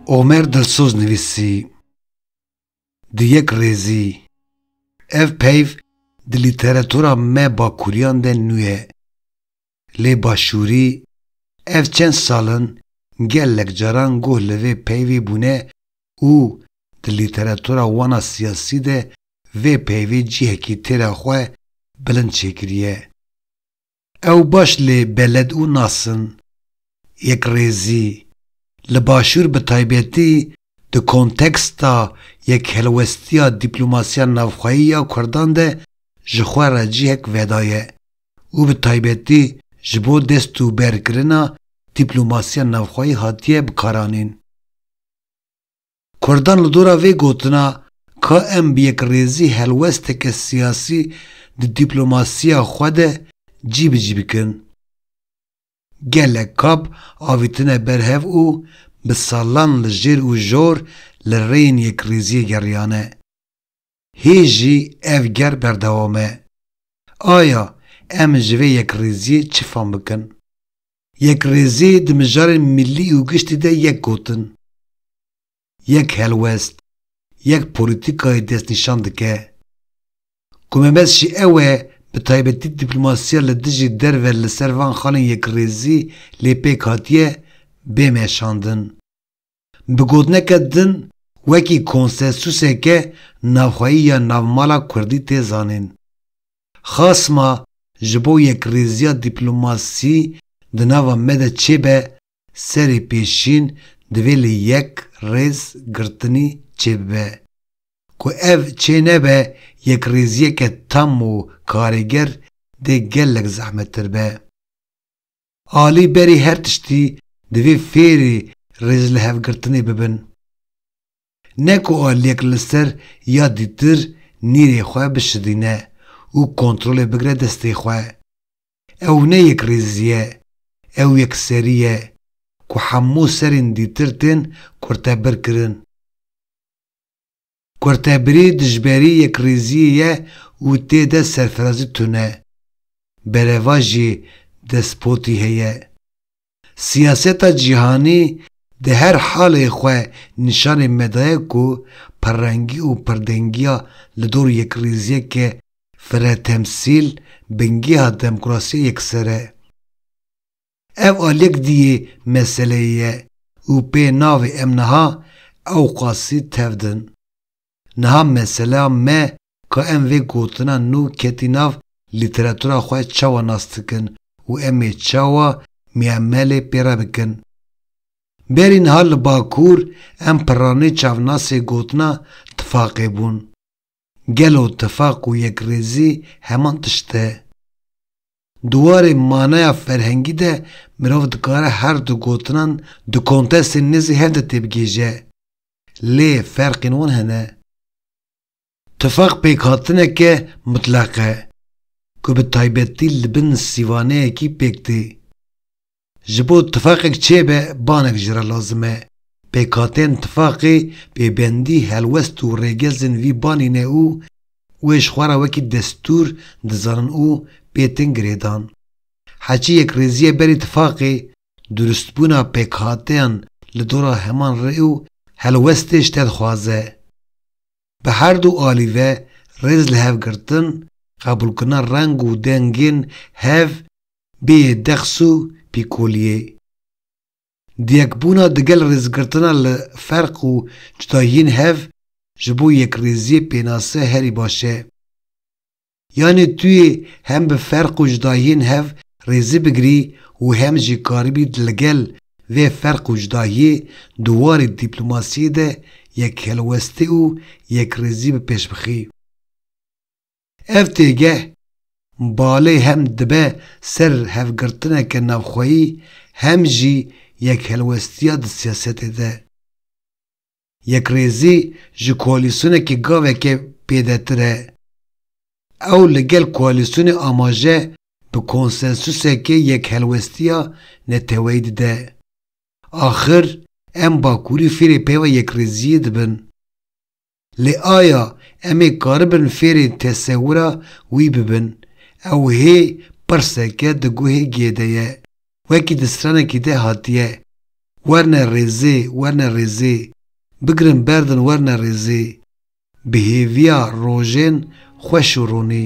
Omer Dilsoz nivîsî, Di yek rêzî, ev peyv di lîteratura me bakûriyan de nûye. lê Başûrî ev çend sal in gelek caran guh li vê peyvê bûne û di lîteratura wan a siyasî de vê peyvê cihekî tê re xwe bilind çêkiriye. Ew baş lê beled û nas in yekrêzî, li Başûr bi taybetî di konteksta yekhelwestiya dîplomasiya navxweyî ya Kurdan de ji xwe re cihek vedaye û bi taybetî ji bo destûberkirina dîplomasiya navxweyî hatiye bikaranîn. Kurdan li dora vê gotina ka em bi yekrêzî helwesteke siyasî di dîplomasiya xwe de cî bi cî bikin, gelek kap avîtine ber hev û bi salan li jêr û jor li rêyên yekrêziyê geriyane. Hê jî ev ger berdewam e. Aya em ji vê yekrêziyê çi fam bikin? Yekrêzî di mijarên milî û giştî de yek gotin, yek helwest, yek polîtîkayê destnîşan dike. Ku me mes jî ew e bi taybetî dîplomasiya li dijî derve li ser van xalên yekrêzî lê pêk hatiye bê meşandin. Bi gotineke din wekî konsesuseke navxweyî ya navmala kurdî tê zanîn. Xasima ji bo yekrêziya dîplomasî di nava me de çêbe serê pêşîn divê li yek rêz girtinî çêbibe. Ku ev çênebe yekrêziyeke tam û karêger dê gelek zehmettir be. Alî berî her tiştî divê fêrî rêzlihevgirtinê bibin. Ne ku aliyek li ser ya dîtir nîrê xwe bişidîne û kontrolê bigire destê xwe. Ew ne yekrêzî ye, ew yekserî ye ku hemû serên dîtir tên kurtebirkirin. Kurtebirî dijberî yekrîziyê ye û tê de serfirazî tune. Bereva jî despotî heye. Siyaseta cîhanî di her halê xwe nîşanê me daye ku pirrengî û pirdengîya li dor yekrîziyeke firetemsîl bingêha demokrasiyê yekser e. Ev a lêk diyê meseleyê ye û pê navê em niha ewqasî tevdin. Niha meseleya me ka em vê gotina nû ketî nav lîteratura xwe çawa nas dikin û em ê çawa miamelê pê re bikin. Berî niha li Bakur em pirranî çavnasê gotina tifaqê bûn. Gelo tifaq û yekrêzî heman tişt e? Di warê manaya ferhengî de mirov dikare her du gotinan di kontestên nêzî hev de têbigihêje, lê ferqên wan hene. Tifaq pêkhatineke mutleq e, ku bi taybetî li bin sîvaneyekî pêk tê. Ji bo tifaqek çêbe banek ji re lazim e. Pêkhateyên tifaqê pêbendî, helwest û rêgezên vî banê ne û wê ji xwe re wekî destûr dizanin û pê tên girêdan. Heçî yekrêziye berî tifaqê, durustbûna pêkhateyan li dora heman rê û helwestê ji te dixwaze. Bi herdû alî ve rêz li hev girtin, qebûlkirina reng û dengên hev bêyê dex û pîkoliyê. Diyekbûna digel rêzgirtina li ferq û cudayiyên hev ji bo yekrêziyê pênase herî baş e. Yanê tu yê hem bi ferq û cudayiyên hev rêzî bigirî û hem jî karibî ligel vê ferq û cudahiyê di warê dîplomasiyê de yekhelwestî û yekrêzî bi pêş bixî. Ev têgeh balê hem dibe ser hevgirtineke navxweyî hem jî yekhelwestiya di siyasetê de. Yekrêzî ji koalîsyonekê gaveke pêdetir e. Ew li gel koalîsyonê amaje bi konsensusekê yekhelwestiya neteweyî dide. Axir em Bakurî fêrê peyva yekrêziyê dibin. Lê aya em ê karibin fêrên tesewira wî bibin? Ew hê pirseke di guhê gê de ye, wekî di stranekî de hatiye, Werne rêzê, werne rêzê, bigirin berdin werne rêzê, bi hêviya rojên xweş û ronî.